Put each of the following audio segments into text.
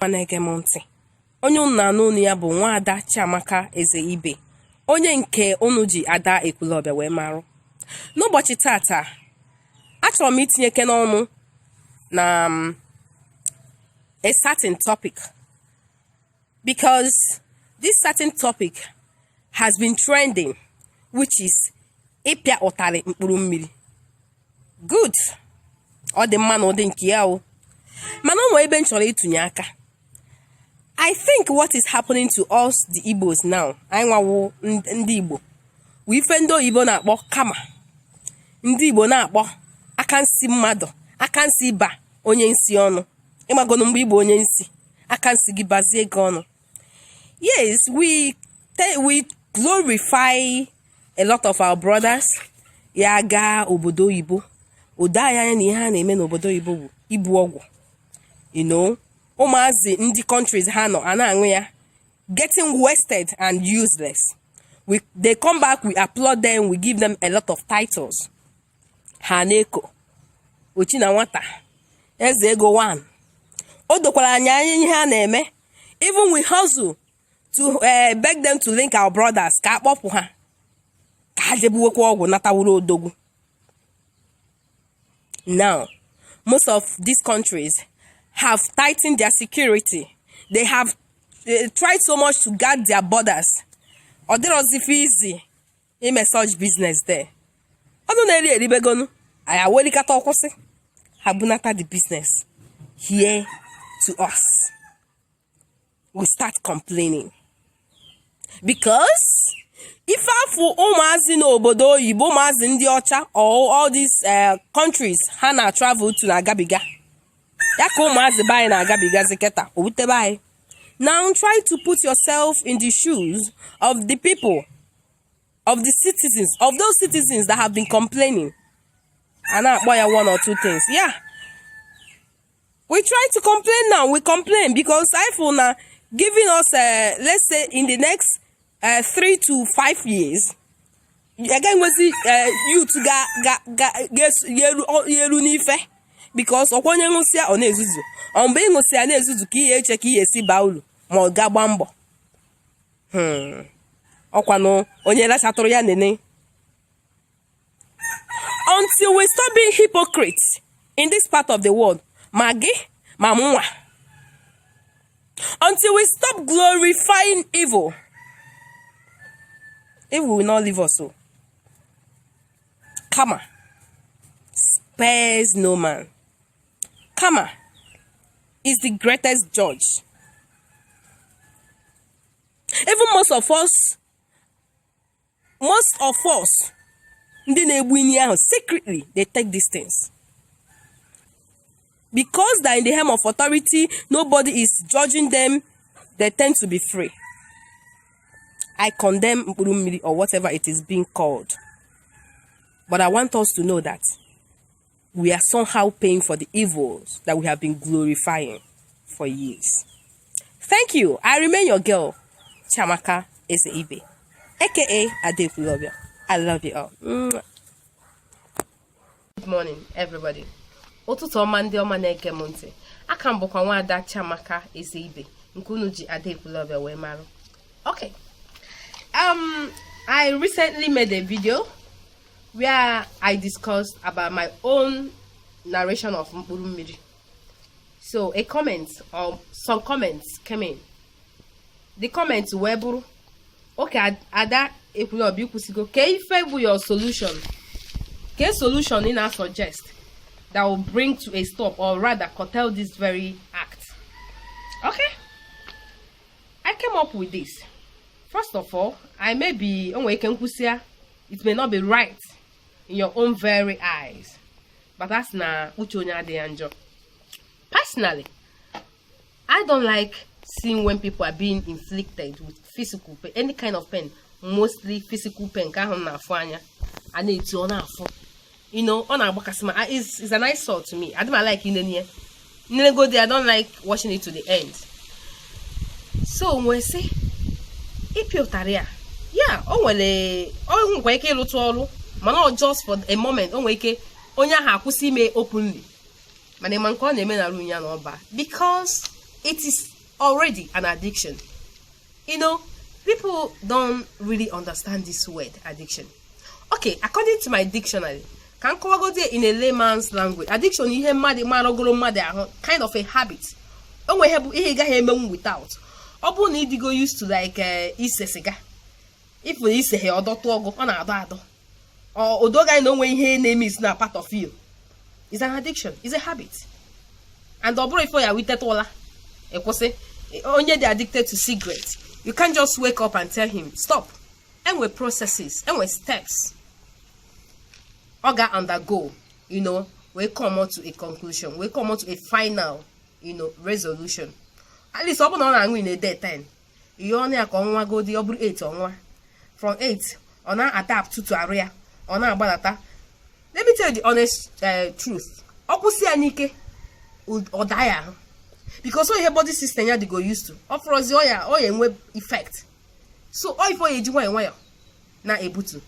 ma na-ege m ntị onye unu na-anụ onu ya bụ nwaada Chiamaka Ezeibe onye nke unu ji Ada Ekwulọbịa wee marụ n'ụbọchị tata achọrọ m itinyekene ọnụ na um, a certain topic because this certain topic has been trending which is ịpịa ụtarị mkpụrụ mmiri good ọ dị mma na ụdị nke ya o mana o nwe ebe m chọrọ ịtụnye aka i think what is happening to us the Igbos now anyị nwa wụ ndị Igbo wụ ife ndị oyibo na-akpọ karma ndị Igbo na-akpọ aka nsi mmadụ aka nsi ịba onye nsi ọnụ ị magonu mgbe ị bụ onye nsi aka nsi gị bazie gị ọnụ yes we we glorify a lot of our brothers ya gaa obodo oyibo o do anyị anya na ihe ha na-eme n'obodo oyibo bụ ibu ọgwụ you know ụmụazị ndị countries ha nọ a na-aṅụ ya getting wasted and useless when they come back we applaud them we give them a lot of titles ha na-eku Ochinanwata Eze Ego One o dokwara anyị anya ihe a na-eme even we hustle to eh, beg them to link our brothers ka a kpọpụ ha ka ha je buwekwa ọgwụ nata wụrụ odogwu now most of these countries have tightened their security they have eh, tried so much to guard their borders ọ dịrọzi ife easy ime such business there ọnụ na-eri eribegonu anyị awelikata ọ kwụsị ha bunata the business here to us. we start complaining because ife afụ ụmụazị n'obodo oyibo ụmụazị ndị ọcha all these eh, countries ha na travel to na-agabiga ya ka ụmụazị be anyị na-agabigazi kịta o wutebe anyị now try to put yourself in the shoes of the people of the citizens of those citizens that have been complaining a na-akpọ ya one or two things yeah we try to complain now we complain because I feel na giving us uh, let's say in the next uh, three to five years a gaghị enwezi uh, youth ga-eru n'ife because ọ kwa onye ṅụsịa ọ na-ezuzu ọ mgbe ị ṅụsịa na-ezuzu ka ị ya-eche ka ị ya-esi baa uru ma ọ ga gbaa mbọ hmm. ọ kwanụ onye lachatụrụ ya nene until we stop being hypocrites in this part of the world ma gị ma mụnwa until we stop glorifying evil evil will not leave us o kama spares no man kama is the greatest judge even most of us most of us ndị na-egbu ini ahụ secretly they take these things because they're in the helm of authority nobody is judging them they tend to be free i condemn mkpụrụ mmiri or whatever it is being called but i want us to know that we are somehow paying for the evils that we have been glorifying for years. Thank you. I remain your girl, Chiamaka Ezeibe, aka Ada Ekwulọbịa. I love you all. Mwah. Good morning, everybody. ụtụtụ ọma ndị ọma na-ege m ntị aka m bụkwa nwaada Chiamaka Ezeibe nke unu ji Ada Ekwulọbịa wee mara okay um I recently made a video where I discussed about my own narration of Mkpuru Mmiri. So a comment or some comments came in. The comments wee bụrụ okay Ada Ekwulọbịa i kwusigo kee ife bụ your solution kee solution ị na-suggest that will bring to a stop or rather curtail this very act. Okay, I came up with this. First of all, I may be o nwe ike m kwusịa it may not be right in your own very eyes but a sị na uche onye adị ya njọ personally i don't like seeing when people are being inflicted with physical pain any kind of pain mostly physical pain nke ahụ na-afụ anya a na-eti ọ na-afụ you know ọ na-agbakasị m ahụ is is an eyesore to me adị m a-like inene ya m nelegodi i don't like watching it to the end so m wee sị ịpịa ụtarị ya ya o nwere ọ nwekwa ike ịlụtụ ọrụ mana ọ just for a moment o nwere ike onye ahụ akwụsị ime openly mana ị ma nke ọ na-eme na room ya na ọba because it is already an addiction You know, people don't really understand this word addiction. Okay, according to my dictionary, ka m kọwagozie in a layman's language addiction ihe mmadụ maragoro mmadụ ahụ kind of a habit o nwe ihe bụ ihe ị gaghị emenwu without ọ bụrụ na ị dịgo used to like eh, ise siga if i seha ọdọtụ ọgụ ọ na-adọ adọ o do gị anya na o nwe ihe na-emiss na part of you is an addiction is a habit and ọ bụrọ ife ọ ya-awụ i teta ụla ị kwụsị onye dị addicted to cigarette you can't just wake up and tell him stop e nwe processes e nwe steps ọ ga undergo you know wee come to a conclusion wee come to a final you know resolution at least ọ bụrụ na ọ na-aṅụ in a day ten ihe ọnụ ya ka ọ ṅụwagodi ọ bụrụ 8 ọ ṅụwa from 8 ọ na-adaptụtụ arụ ya ọ na-agbadata let me tell you the honest eh, truth ọ kwụsị ya n'ike ọ daa ya ahụ because ihe body system ya dịgo used to ọ fụrọzi ya ọ ya-enwe effect so ọ ife a ya-eji nwayọ nwayọ na-ebutu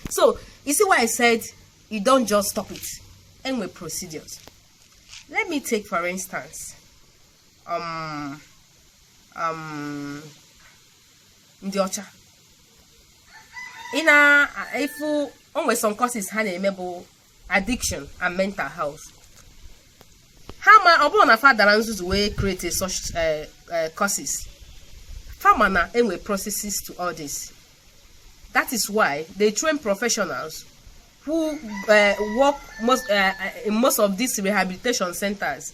so you see why I said you don't just stop it e nwe procedures let me take for instance um, um, ndị ọcha ị na-afụ o nwere some courses ha na-eme bụ addiction and mental health ha ma ọ bụrọ na fa dara nzuzu wee create such eh, eh, courses fa ma na e nwe processes to all this that is why they train professionals who uh, work most, uh, in most of these rehabilitation centers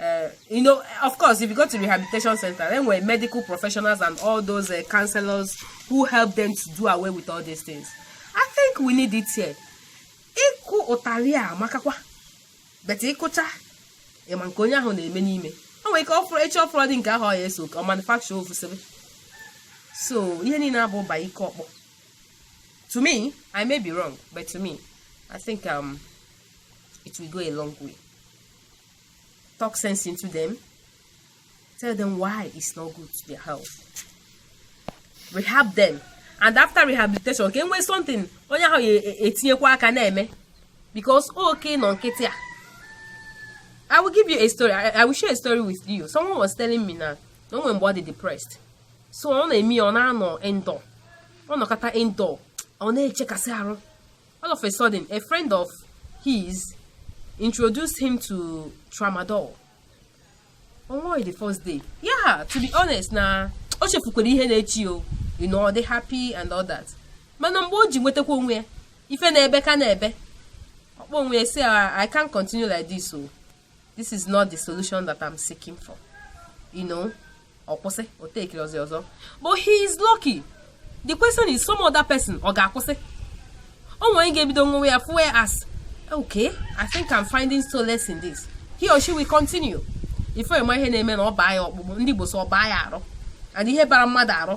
Uh, you know, of course, if you go to rehabilitation center, e nwere medical professionals and all those uh, counselors who help them to do away with all these things. I think we need it here. Ịkụ ụtarị a amakakwa but ị kụcha ị ma nke onye ahụ na-eme n'ime o nwere ike ọfụrụ echi ọfụrụ dị nke ahụ ọ ya eso ka ọ manufacture ofusebe so ihe niile abụ by ike ọkpọ to me i may be wrong but to me i think um, it will go a long way. talk sense into them tell them why it's not good to their health rehab them and after rehabilitation ka e nwee something onye ahụ ya e, etinyekwa aka na-eme because oke ịnọ nkịtị a I will give you a story I, I will share a story with you someone was telling me na na o nwe mgbe ọ dị depressed so ọ na-eme ya ọ na-anọ indoor ọ nọkata indoor ọ na-echekasị arụ All of a sudden, a friend of his introduced him to tramadol. Ọ ṅụọ ya the first day. Yeah, to be honest na o chefukwara ihe na-eche ya o. You know, ọ dị happy and all that. Mana mgbe o ji nwetakwa onwe ya, ife na-ebe ka na-ebe. Ọ kpọọ onwe ya sị, I can't continue like this o. this is not the solution that I'm seeking for you know ọ kwụsị o takerọzi ọzọ but he is lucky the question is some other person ọ ga-akwụsị o nwere onye ga-ebido ṅụwa ya fụwa ya as okay I think I'm finding solace in this he or she will continue before a ma ihe na-eme na ọ baa ya ọkpụkpụ ndị Igbo sị ọ baa ya arụ and ihe bara mmadụ arụ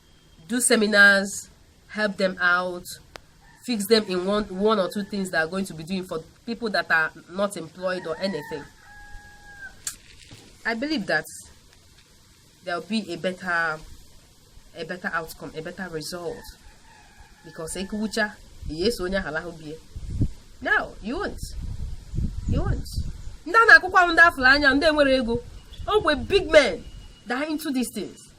do seminars help them out fix them in one, one or two things they are going to be doing for people that are not employed or anything i believe that there will be a better a better outcome a better result because ekucha yes onye ahụ bie now you won't you won't ndị a na-akụkwa ndị afụrụ anya ndị nwere ego ogwe big men die into these things